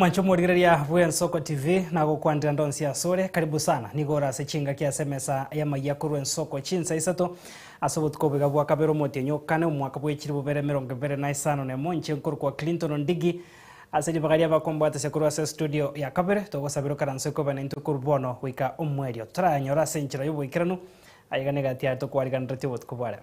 Mwanche omorigereria bw'Ensoko TV, nagokwanera ndonsi asore, karibu sana, nigo ore ase chingaki ase emesa y'amayia korwa Ensoko chinsa isato, ase obotuko obo iga bwa kabere omotienyi o kane, omwaka bw'echiri bobere emerongo ebere na isano na emo, inche nkorokwa Clinton Ndigi, ase ribaga ri'abakombwatisia korwa ase estudio ya kabere, togosabera okaranse okobe naintwe korwa bono goika omwerio toranyore ase enchera y'oboikeranu, aye iga negati yaye tokwariganeretie obotuko bwa rero.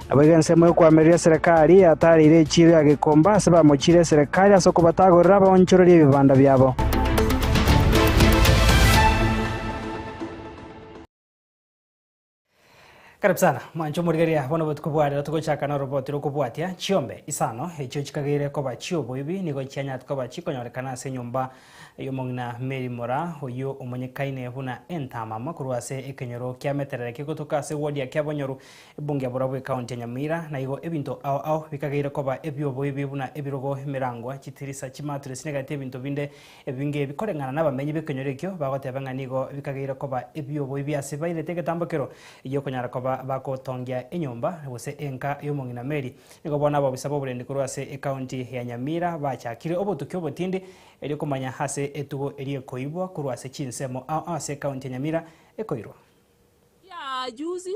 Nabo iga ensemo y'okoamereria eserekari yatareire echiiro ya gekomba ase bamochiire eserekari ase okobatagorera abaonchorerie ebibanda biabo. Karibu sana mwanche omorigereria, bono botuko bwa rero togochaka na oroboti rokobwatia chiombe isano echio chikageire koba chioboibi nigo chianyarete koba chikonyorekana ase enyomba y'omong'ina Mary Mora oyio omonyekaine buna Entamama korwa ase ekenyoro kiameterere kegotoka ase ward ya Kiabonyoru Ebunge ya borobwo ekaunti ya Nyamira, na igo ebinto ao ao bikageire koba ebi'oboibi buna ebirogo, emerango, chitirisa, chimatress na egati ebinto binde ebinge ebi koreng'ana nabamenyi b'ekenyoro ekio bagoteba ng'a nigo bikageire koba ebi'oboibi ase bairete egetambo kero gi'okonyara koba bagotongia enyomba gose enka y'omong'ina Mary. Nigo bono abobisa b'oborendi korwa ase ekaunti ya Nyamira bachakire obotuki obotindi erio komanya ase etugo eria ekoibwa korwa ase chinsemo ao ao ase ekaunti ya Nyamira ekoirwa. Ria juzi,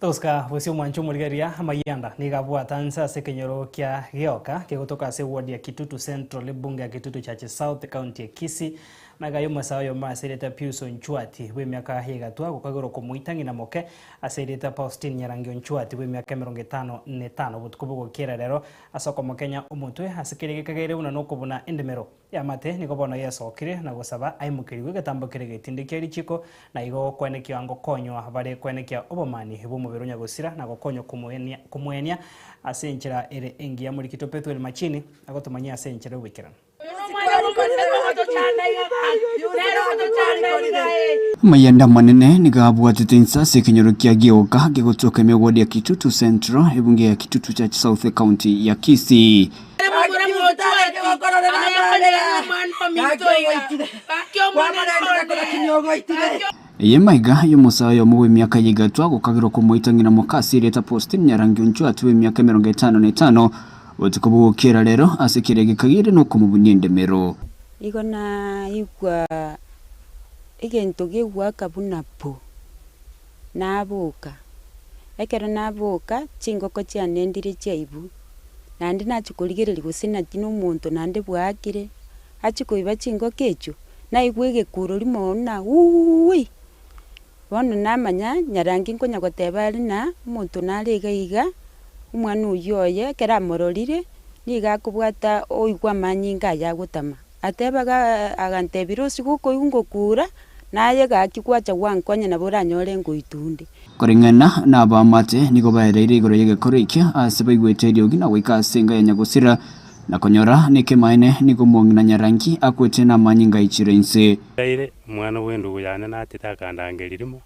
Tosika bosie omwancho omorigeria Mayanda nigo abwata nse ase ekenyoro kia Gioka kegotoka ase ward ya Kitutu Central ebunge ya Kitutu Church South county ya Kisii nagaye omosae oyomo ase erieta Pius Onchwati bw'emiaka y'egatwa gokagera okomoita ng'ina moke ase erieta Paustin Nyarangi Onchwati bw'emiaka emerongo etano na etano obotuko bogokiera rero ase okomokenya omotwe ase keria gekagaire buna nokobuna endemero Y'amate, nigo bono Yeso okire na gosaba aimokerigwe egetambo kere getindi kia richiko, na igo gokwenekiwa ngokonywa bare kwenekia obomani bw'omobere o Nyagosira na gokonywa komoenia komoenia ase enchera ere engiya Morikito Pethuel Machini agotomanyia ase enchera y'ogoikeranu. Amayanda amanene nigo abwatete inse ase ekenyoro kia Gioka gegotoka emegodi ya Kitutu Central, ebunge ya Kitutu Church South County ya Kisii. Eye maiga y'omosae oyomo bw'emiaka eye egatwa gokagerwa komoita ng'ina Mokasi erieta Postin nyarangi onchwa ati bw'emiaka emerongo etano na etano, botuko bogokiera rero, ase kera egeka gere nokomobunia endemero. Nigo naigwa egento gegoaka buna pu. nabuuka. Ekero nabuuka, chingoko chiane ndire chiaibu, naende nachia korigereria gose naki nomonto naende bwaakire. Achia koiba chingoko echio, naigwa egekurori mono buna uuii! Bono namanya nyarange nkonya goteba are na omonto nare iga iga, omwana oyio oye ekero amororire, nigo akobwata oigwa amanyinga ayio agotama. Ateba agantebia, Rosigo okoigwa ngokuura, naye gaki gwacha gwankonya nabo oranyore ngoitwa onde. Koring'ana na abaamate nigo baereire igoro y'egekoro ekio aase baigwete eriogi na goika ase enga ya Nyagusira, na konyora nekemaene nigo omong'ina Nyarangi akwete namanyinga aichire inse. Ntaire omwana bw'endugu yane naachete akandangeria rimo,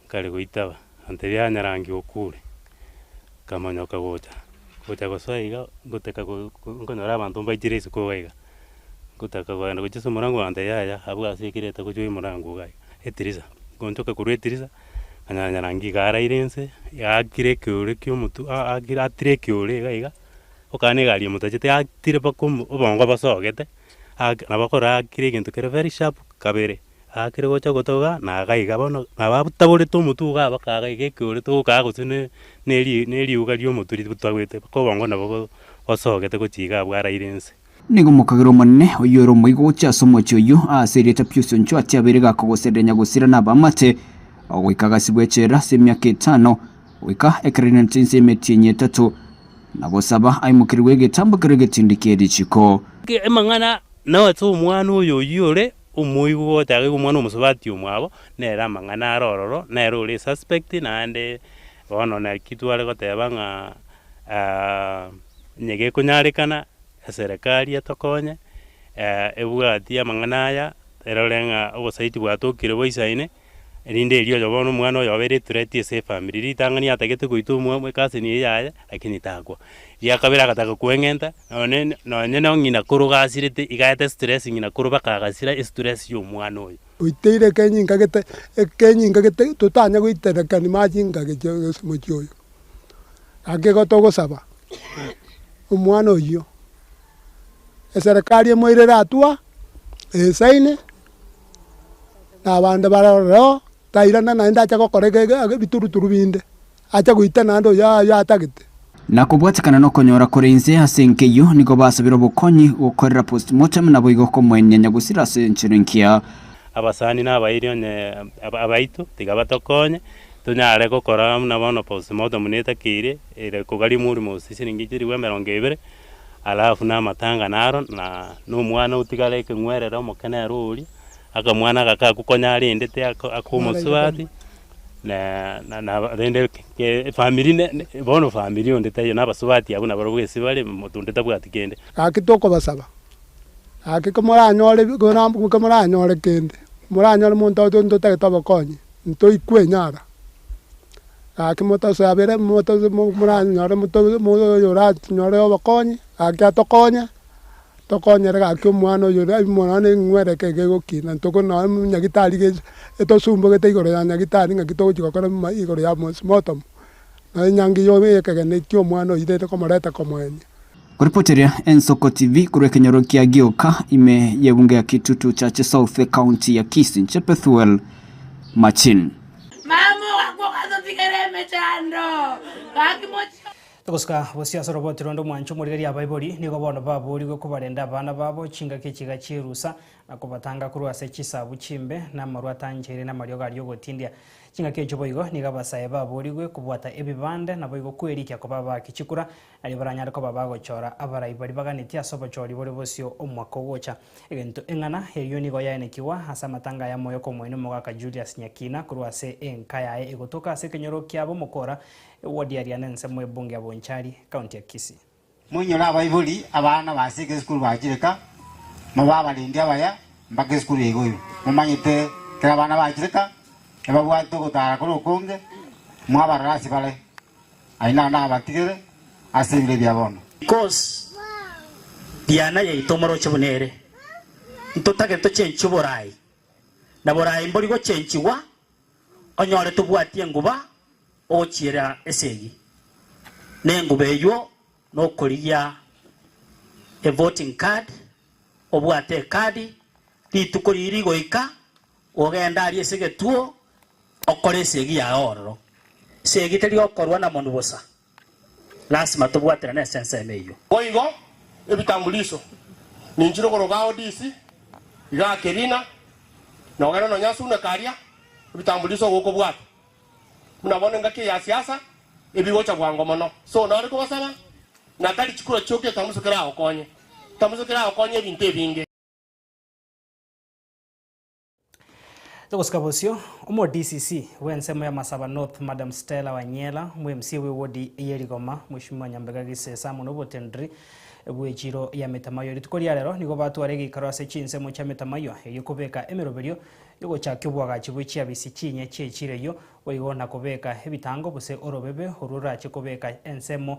nkare goitaba. Antebia, Nyarangi okure, nkamonyoka gocha. Gocha gosoa iga, ngotaka go, go, nkonyora abanto mbaitire isiko iga iga. Ngotaka kogenda gochia ase omorango bakantebi, Yaya, abwo ase ekireta gochia oyo morango iga iga, etirisa. Ngonchoka korwa etirisa, nkanyora Nyarangi iga araire inse, aakire ekeore kia omotu, a- akire atire ekeore iga iga, okana egari emotachete yatire mpaka omo obongo bosogete, ake nabo akorora akire egento kere very sharp kabere. Agakire gocha gotoga, na agaika iga bono, na bataborete omotugo aba kaga iga ekeore togokaga gose ne neri neriuga ri'omoturi botagwete, bakobongwa nabo go gosogete gochia iga abwo araire ense. Nigo mokagera Omonene, oyio ore omoigo gochia ase omochie oyio, aase erieta Piusi onchwa atia abeire gaka goserera nyagosira na abamate, ogoika agasibwa echela ase emiaka etano, goika ekero rinanete ense y'emeti enyia etato, na gosaba aimokerigwe egetambo kerwe egetindi ki'erichiko. Amang'ana nao ase omwana oyo oyio ore Omoibi bw'ogotegaigwa omwana omosubati omwabo, nere amang'ana are ororo, nere ore esuspect, naende bono naki tware goteba ng'a onye gekonyarekana eserekari etokonye ebwati amang'ana aya erore ng'a obosaiti bwatokire boisaine, Erinde erio oyoba nomwana oyoba ere threat ase efamiri. Ritang'ani yatagete goitwa omwa ecousin eye yaye lakini takwa. Eria kabere agataka koeng'enta nonye nonye nong'ina koro gasirete iga aete stress ng'ina koro baka agasira estress ya omwana oyo. Oiteire ekenyi nkagete ekenyi nkagete totanya goiterekani machinka gecho ase omochie oyo. Gaki igo togosaba omwana oyio eserekari emoirere atua esaine. na abande bare ororo, tairana naende ache gokora eke eke ake ebituruturu binde, ache goita naende oyo aa oyo atagete. Na kobwatekana nokonyora kore inse ase enkeyio nigo basabire obokonyi gokorera postmortem naboigo komoenyenya gosira ase enchera engiya. Abasani na abairi onye abaito tiga batokonye tonyare gokora buna bono postmortem netakeire ere kogaria omorimo ose siringi chilifu emerongo ebere. Alafu namatang'ana aro, na nomwana otigare ekeng'werere omokenere oria, akamwana agakakwa konya arendete ak- akomosubati, na na naba rende ke- efamiri ne- ne bono famiri onde taiyo, na abasubati abwo nabarobwo gese bare, omonto onde tabwati kende. Gaki tokobasaba, gaki komoranyore bi- kona mbu komoranyore kende, moranyore monto oto ntotagete obokonyi, ntoikwe enyara. Gaki motosabere, moranyore oyo oranyore obokonyi, gaki atokonya, tokonyere gaki omwana oyo ore aimore nonye neng'were eke egegokina, ntokore nonye buna nyagitari iga etosumbogete igoro ya nyagitari ng'aki togochia gokora igoro ya mosimotomo, nonye enyangi ya ekegeni kia omwana oirire komoreta komoenia. Koripoteria Ensoko TV korwa ekenyoro kia Gioka ime y'ebunge ya Kitutu Chache South ecounty ya Kisii inche Pethuel Machin. Mama ogakwa ogasotigera emechando gaki mochie. Togosika bosio ase oroboti ronde omwancho omorigeria abaibori nigo bono baboorigwe kobarenda abana babo chingaki echiga chierusa na kobatanga korwa ase chisabu chimbe na amarwa atanchaire na amariogo aria ogotindia. Chingaki echo boigo nigo abasae baboorigwe kobwata ebibande naboigo kwerikia koba abaaki chikura Aria baranyare koba abagochora abarai baria baganetie ase obochori boria bosio omwaka ogocha. Egento eng'ana eyio nigo yaenekigwa ase amatanga aya moyo k'Omoeene Omogaka Julius Nyakina korwa ase enka yaye egotoka ase ekenyoro kia ab'omokora ewodi aria n'ensemo y'ebunge ya Bonchari, County ya Kisii. Moinyore abaibori abana base egesukuru bachire ka, mobe abarendi abaya mpaka esukuru egoirwe. Momanyete kera abana bachire ka ebabwate ogotara kore okonge, mwabarora ase bare. Aye naende abatigere ase ebibe bia bono. Cos. Diana yaito omoroche buna ere, ntotagete tochenchwe borai, na borai mbori gochenchigwa, onyore tobwati enguba ogochiera esegi, na enguba eyuo nokorigia evoting card, obwate ekadi, rituko riria rigoika Gogenda aria ase egetuo, okore esegi yago ororo. Esegi teri okorwa na monu bosa. Lasima tobwaterane ase ensemo eyio. Boigo ebitambulisho ninchire okoroka ao DC, igaa Kebina, nogende nonya ase una karia ebitambulisho ogokobwata. Buna bono engaki eye ya siasa ebigocha bwango mono. So nare kobasaba na tari chikura chioka etamuso keragokonye. Etamuso keragokonye ebinto ebinge. Togosika bosio, omo DCC bw'ensemo ya Masaba North Madam Stella Wanyela, omo MCA bwe wodi eye Rigoma Mweshimiwa Nyambega Gisesa amo nobotendri bwe chiro ya Metamayo rituko ria rero nigo batware egeikaro ase chinsemo chia Metamayo erio kobeka emeroberio yogochakia obwagachi bwe chiabisi chinya chie chiro eyio boigo na kobeka ebitango bose orobebe orwo orache kobeka ensemo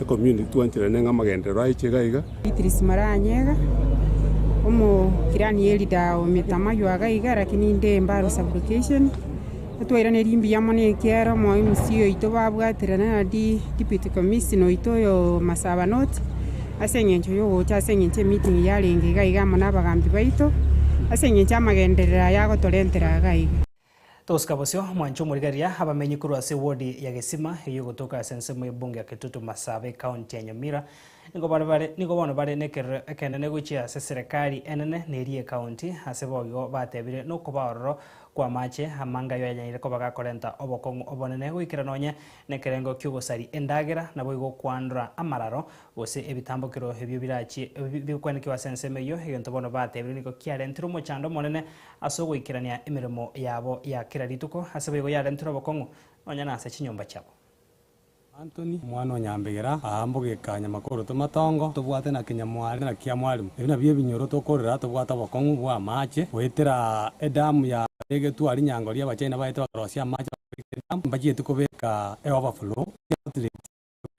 Ecommunity twanchorana neng'a amagenderero aye ichega iga. Beatrice Maranyega, omo clan ye leader o Mitama ywa iga iga lakini inde Embaro sub location. Twairaneria mbuya mono ekiagera omo MC oito babwaterana na deputy commissioner oito oyo Masaba North ase eng'encho ya ogocha ase eng'encho emeeting yarenge iga iga amo na abagambi baito ase eng'encho amagenderero aya agotorentera iga iga. Tosika bosio mwanche omorigaria abamenyi korwa ase ewodi ya Gesima, eyio egotoka ase ensemo y'ebunge ya Kitutu Masaaba ecounty ya Nyamira. Nigo bare bare nigo bono bare nekerero ekenene gochia ase eserekari enene na eria ecounty ase boigo batebire nokoba ororo kw'amache amange ayio yanyaire koba gakorenta obokong'u obonene goikera nonye nekerengo ki'ogosaria endagera naboigo kwandora amararo Gose ebitambokero ebio birachie bigokwenekiwa ase ensemo eyio, egento bono batebirie nigo kiarentire omochando omonene ase ogoikerania emeremo yabo ya kera rituko, ase boigo yarentire obokong'u nonya nase chinyomba chiabo. Antoni, omwana o nyambegera, Aa mbogeka nyamakoro tw'amatongo tobwate na kinyamwari na kia mwalimu, ebi nabio ebinyoro tokorera tobwate obokong'u bw'amaache goetera edamu ya begetwe aria nyangori y'Abachina baete bakorosia amaache bakarika edamu mbachieti kobeka eoverflow ya outlet.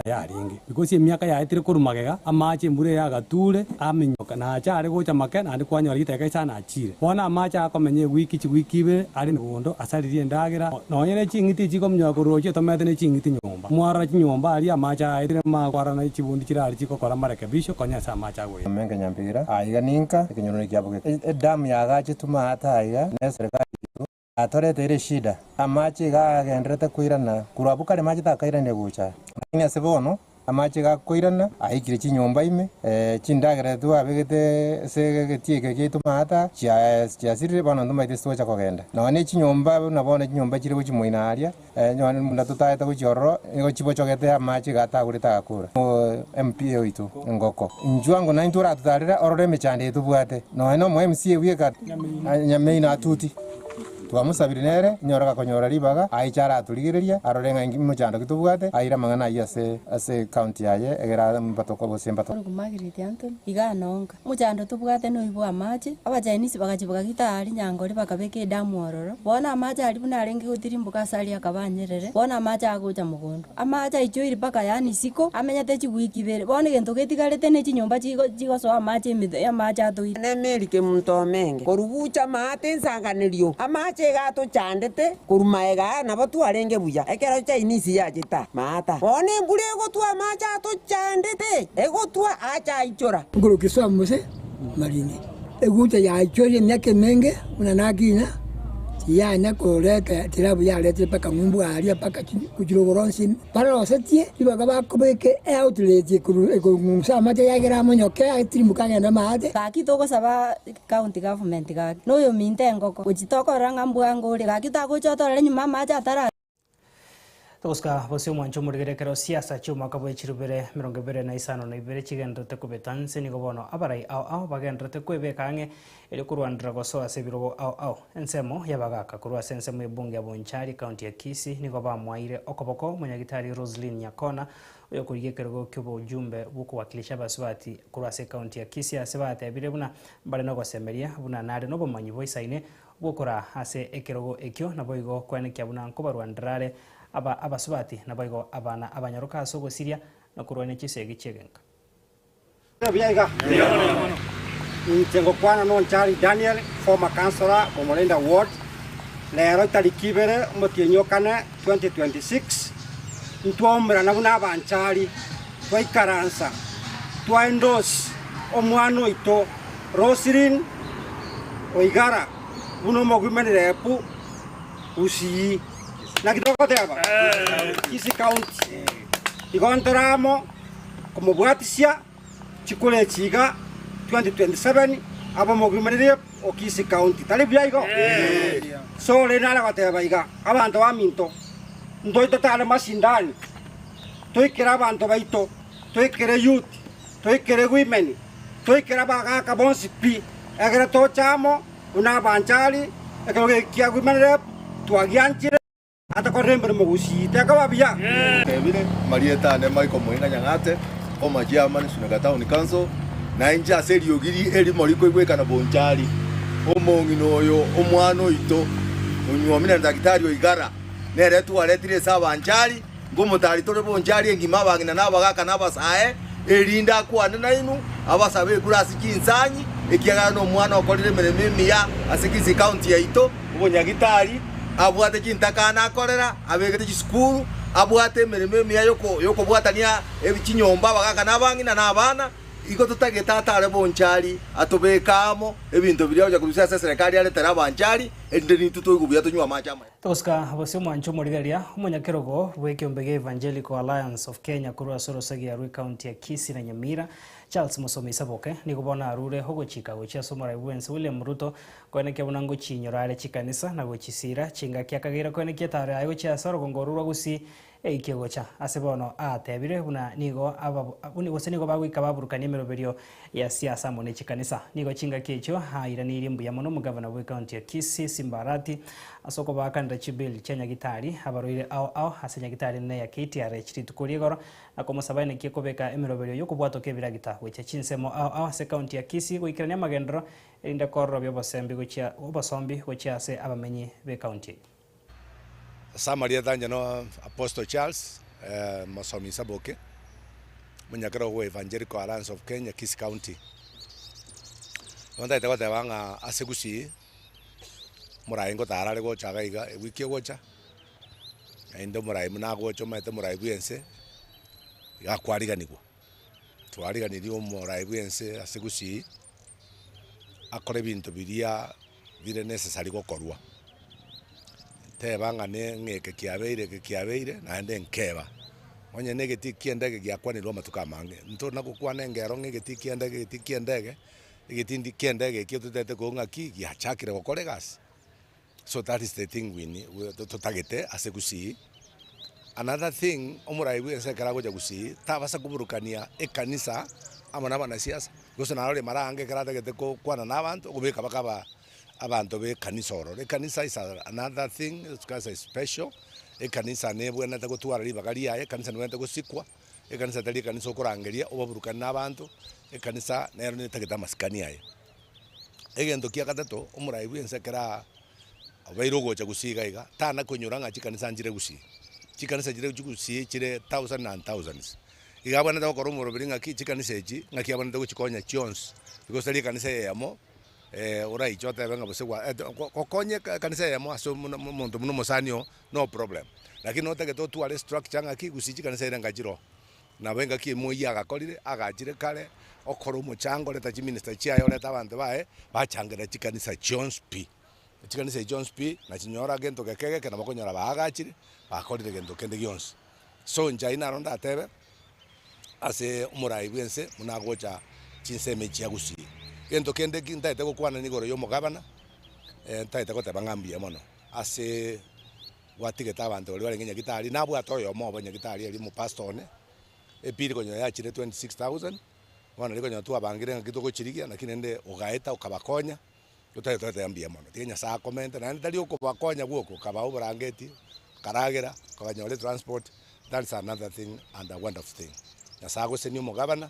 emiaka yarenge, gose emiaka yaetire korwa magega, amaache, embura eye agatuure, aminyoka, na ache aare gocha make, naende kwanyora giteka isano achiire. Bono amaache akomenye ewiki, chiwiki ibere, are negondo, asaririe endagera, nonye ne ching'iti echi chikominyoka koroochio etomete ne ching'iti nyomba. Mwarora chinyomba aria amaache aetire, magokwarana chibundi chirare chigokora amarekebisho konya ase amaache agoeta. Ime nkenywa mpira aiga ninka ekenyorone kiabo geke. Edamu yagaachetwe maate aiga, na eserikari yaito. atoreteire eshida. Amache iga agendererete koirana korwa abwo kare mache takairanirie gocha, lakini ase bono amache iga akoirana, aikire chinyomba ime, chindagera ase twabegete ase egetie eke giaito maata chiasirire, bono ntomaete ase togocha kogenda. Nonya ne chinyomba buna bono chinyomba chire gochia moino aaria, Nonya buna totaete gochia ororo, nigo chibochogete amache iga atagorete agakora. MP oito engoko inchwa ngo naintwe oratutarere ororo emechando eye tobwate. Nonya nomo MC ebu eka Nyameino atuti twamosabire nere inyora gakonyora ribaga aiche aratorigereria arore ng'a inki mochando ki tobwate aire amang'ana ayio ase ase county yaye egere ambato gose mbato. Ore komagiriti Anthony, Igaa nonka. Mochando tobwate noyo bw'amaache. Abachainisi bagacha bagagita aa rinyangori bakabeka edamu ororo. Bono amaache aria buna arenge gotirimboka ase aria akaba anyerere, bono amaache agocha mogondo. Amaache aichoiri mpaka yaani isiko, amenyete chigwiki ibere. Bono egento getigarete ne chinyomba chigo chigosoa amaache emetwe y'amaache atoire. Nemeeri kemunto omenge korugucha amaate ensanganerio, amaache iga atochandete. Korwa magega aya nabo twarenge buya ekero chainisi yacheta maata. Bono embura egotwa amache atochandete, egotwa aachaichora. Nkorokire Soamu gose Marine. Eguncha yaichoria emiaka emenge buna naki inya, tiyanya koreta tiraabu yaretire mpaka ng'umbu aaria mpaka chirogoro onsi barosetie ribaga bakobeka eoutlet ekong'unsa amache yagera amonyoke atirimboke agende maate. Gaki togosaba County Government gaki, noyominto engoko, gochi tokorora ng'a mbwango ore gaki tagocha otorere nyuma amache atara. Togosika bosio omwancho omorigere ekero siasa chi'omwaka bwe chirubere emerongo ebere na isano na ibere chigendererete kobeta, nse nigo bono abarai ao ao bagendererete kwebeka ang'e erio korwanera gosoa ase ebirogo ao ao. Ensemo y'abagaka korwa ase ensemo y'ebunge ya Bonchari, county ya Kisii, nigo bamwaeire okoboko Monyagitari Roseline Nyakona, Oyokorigia ekerogo ki'obojumbe bw'okowakilisha Abasubati korwa ase ekaunti ya Kisii ase batebire buna mbare nogosemeria buna nare nobomanyi boisaine bw'okoraa ase ekerogo ekio naboigo kwenekia buna nkobarwa ndrare aba Abasubati naboigo abana abanyoroka ase ogosiria nokorwania chisegi chi'egenka. Inche ngokwana nonchari Daniel, former councillor Bomorenda ward. Rero itariki ibere omotienyi o kane 2026, ntwaumerana buna abanchari, twaikaransa, twaendorse omwana oito Roselyn Oigara buna omoguimerire pu Gusii. Naki togoteba? Kisii County. Igo ntore amo. komobwatisia chikura echi iga 2027 abe omogwimoreria o Kisii County, tari buya igo? So rende nare goteba iga, abanto baminto, ntoito tare mashindani, toikere abanto baito, toikere youth, toikere women, toikere abagaka bonsi pi, egere toche amo buna abanchari, ekerogo eki kia women rep twagianchire. Atakorire emeremo gosii, tekaba buya. Tebire Marieta ane Mike omoina Nyang'ate, Former Chairman Nsuneka Town Council, na inche ase eriogi ri erimo rikoigwekana bonchari, Omong'ina oyo, omwana oito, onyuomire na Daktari o Igara, nere twaretire ase abanchari, ngomotari tore bonchari engima abang'ina na abagaka na abasae, erinde akwane nainwe abasabe ekura ase chinsang'i, ekiagera nomwana okorire emeremo emiya ase Kisii County yaito. Omonyagitari abwate chintakano akorera, abegete chisukuru, abwate emeremo emiya y'okobwatania chinyomba abagaka na abang'ina na abana, igo totagete atare bonchari atobeka amo ebinto biria gocha korusia ase eserekari are tari abanchari, erinde n'intwe toigwe buya tonywe amache amaya. Tosca Bosio Mwancha omorigeria, omonyakerogo bw'ekeombe gia Evangelical Alliance of Kenya korwa ase orosagia rwe county ya Kisii na Nyamira, Charles Musome Isaboke, nigo bono arure ogochika gochia ase omoraibu bw'ense William Ruto Koenekia buna ngochiinyora are chikanisa, na gochisiira chingaki akageira koenekia etaro yaye gochia ase orogongo rorwa gusii eikie gocha ase bono aatebire buna nigo abab gose nigo bagoika baburukania emeroberio ya siasa amo ne chikanisa. Nigo chingaki echio aairaneirie mbuya mono omogavana bwe county ya Kisii Simba Arati ase okobaakanera chi bill chia nyagitari abaroire ao ao ase nyagitari enene ya KTRH rituko ri'egoro na komosaba aenekie kobeka emeroberio y'okobwatoka ebiragita gochia chinsemo ao ao ase county ya Kisii goikerania amagendero erinde kororobia obosombi gochia obosombi gochia ase abamenyi b'ekaunti eye. Ase amarieta anche no Apostle Charles Mosomi Nsaboke, Omonyakerwa bwa Evangelical Alliance of Kenya, Kisii County. Bono ntagete goteba ng'a ase Gusii eye, omorai ngotarare gocha iga iga ewiki egocha, naende omorai buna agocha omanyete omorai bwense iga kwariganigwa. twariganirie omoraai bwense ase gusii akore ebinto biria bire necessary gokorwa. Teba ng'a ne ng'a eke kiabeire eke kiabeire naende nkeba. Onye ne egeti ekia endege giakwanirwe amatuko amange, ntori na gokwana engero ng'a egeti ekia endege egeti ekia endege, egeti endi kia endege ekio totaete koigwa ng'aki giachakire gokora egasi. So that is the thing win totagete ase gusii. Another thing omorai bwense ekero agocha gusii tabasa koburukania ekanisa amo nabana siasa because naro rimara ange ekero atagete gokwana na abanto okobeka bakaba abanto bekanisa ororo. Ekanisa is another thing ekanisa is special ekanisa nebwenete gotwara ribaga riaye ekanisa nebwenete gosikwa ekanisa tari ekanisa okorangeria obaburukane na abanto ekanisa nero netagete amasikani aye. Egento kia gatato, omorai bw'ense ekero aa obeire ogocha gusii iga iga, tana koinyora ng'a chikanisa nchire gusii. Chikanisa chire chigusii chire thousands and thousands. Iga abwenerete gokora omoroberi ng'aki chikanisa echi, ng'aki abwenerete gochikonya chionsi, because tari ekanisa eyemo oraiche otebe ng'a gose gwa eto go gokonya eka ekanisa eyemo ase omona mo monto buna omosani oo, no problem. Lakini notagete otware estructure ng'aki gusii chikanisa eira ngachire oo. Nabo engaki emo eyio agakorire, agachire kare okora omochango oreta chiminista chiaye orete abanto baye bachangera chikanisa chionsi pi. Chikanisa echi chionsi pi nachinyora gento geke egeke nabo okonyora baagachire, bakorire gento kende gionsi. So inche ayio naro ndatebe ase omorai bw'ense buna agocha chinsemo echi agusii. Gento kende ki ntagete gokwana niga igoro ya omogabana, ntagete goteba ng'a mbuya mono ase. Gwatigete abanto baria barenge Nyagitari, nabwate oyomo obo Nyagitari eria omopastor one, epiri konyora yachire 26,000, bono riria konyora twabangire ng'aki togochirigia, naki rende ogaeta okabakonya, otagete goteba mbuya mono, tiga Nyasae akomente, naende tari okobakonya bwoka, okabaa oborangeti, okaragera, okabanyora etransport, that is another thing and a wonderful thing. Nyasae agoseni omogabana,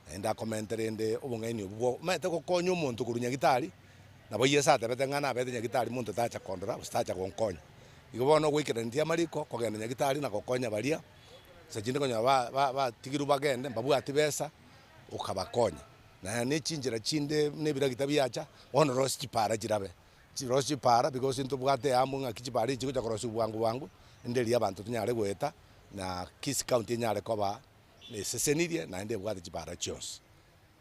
naende akomente rende obong'aini obwo bwa omanyete gokonya omonto korwa nyagitari, nabo Yeso atebete ng'a nabete nyagitari monto tacha kondora gose tacha gonkonya. Igo bono goikaraneti amariko, kogenda nyagitari na gokonya baria nsa chinde konyora ba ba batigirwe bagende mbabwati besa, okabakonya. Na ne chinchera chinde buna ebiragita biacha, bono rosie chipara chirabe, rosie chipara because ntobwate amo ng'aki chipara echi chigocha korosiwa bwango bwango, rende erio abanto tonyare goeta na kisi county enyare koba. nesesenirie, naende ebwate chibaara chionsi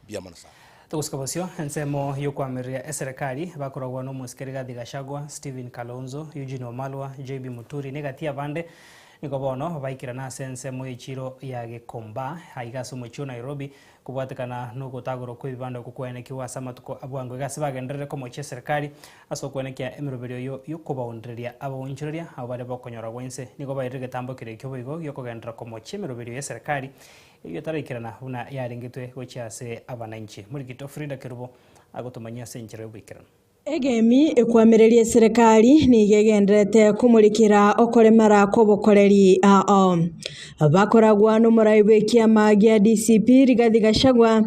bi'amang'ana ’a. Togosika bosio, ensemo y'okoamereria eserekari bakorogwa n'omosike Rigathi Gachagua, Stephen Kalonzo, Eugene Wamalwa, JB Muturi na egati y'abande nigo bono baikerana ase ensemo y'echiro ya Gikomba aiga ase omochie o Nairobi kobwatekana n'ogotagorwa kw'ebibanda okwo kwaenekigwe ase amatuko abwango iga ase bagenderere komochia eserekari Ase okwenekia emeroberio eyio y'okobaoondereria abaonchoreria abo bare b'okonyorwa gw'ense, nigo baeire egetambo kere ekio boigo gi'okogenderera komochia emeroberio y'eserekari, eyio etaraikirana buna yarengetwe gochia ase abananchi. Morikito Frida Kerubo agotomanyia ase enchera y'oboikeranu. Egemi ekwamereria eserekari nigo egendererete komorikera okoremera kw'obokoreri ao. Bakoragwa n'omorai bw'ekiama gia DCP Rigathi Gachagua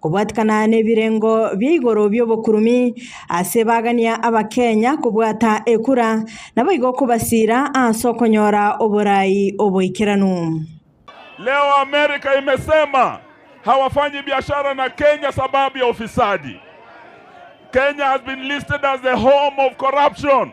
Kobwatikana nebirengo bia igoro biobokurumi ase bagania abakenya kobwata ekura naboigo kobasira ase okonyora oborai oboikeranu. Leo Amerika imesema hawafanyi biashara na Kenya sababu ya ufisadi, Kenya has been listed as the home of corruption.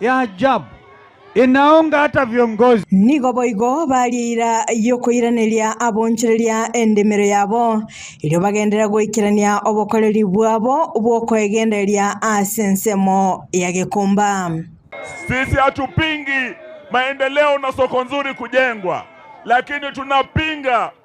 ya ajabu, inaonge hata viongozi. Nigo boigo baria eira y'okoiraneria abonchoreria endemero yabo, erio bagenderere goikerania obokoreri bwabo bw'okoegendereria ase ensemo ya gekomba. Sisi hatupingi maendeleo na soko nzuri kujengwa, lakini tunapinga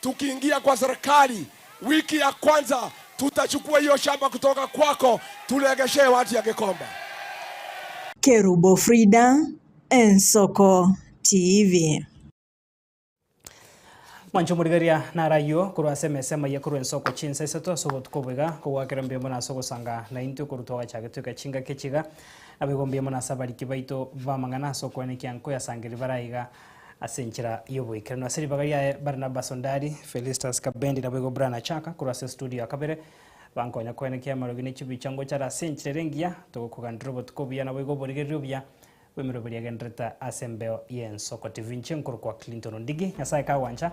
tukiingia kwa serikali wiki ya kwanza tutachukua hiyo shamba kutoka kwako turegeshee watu ya Gikomba. Kerubo Frida, Ensoko TV. Mwanche omorigaria naro ayio korwa ase emesa emaya korwa ensoko chinsa isato ase obotuko obo iga, kogoakera mbiamo na ase ogosanga naintwe korwa twagachagete goika chingaki echi iga, naboigo mbiamo na ase abariki baito b'amang'ana ase okwenekia nko yasangeria bare aiga. Ase enchera y'oboikeranu ase ribaga riaye, Barnaba Sondari, Felistus Kabendi naboigo Brana Chaka korwa ase studio ya kabere, bankonye koenekia amarogi ne chibicha ngochare ase enchera ere engiya. Togokuganera obotuko obuya naboigo oborigereri obuya bw'emeroberio egenderete ase embeo y'ensoko. TV inche nkorokwa Clinton Ondigi. Nyasae kagwancha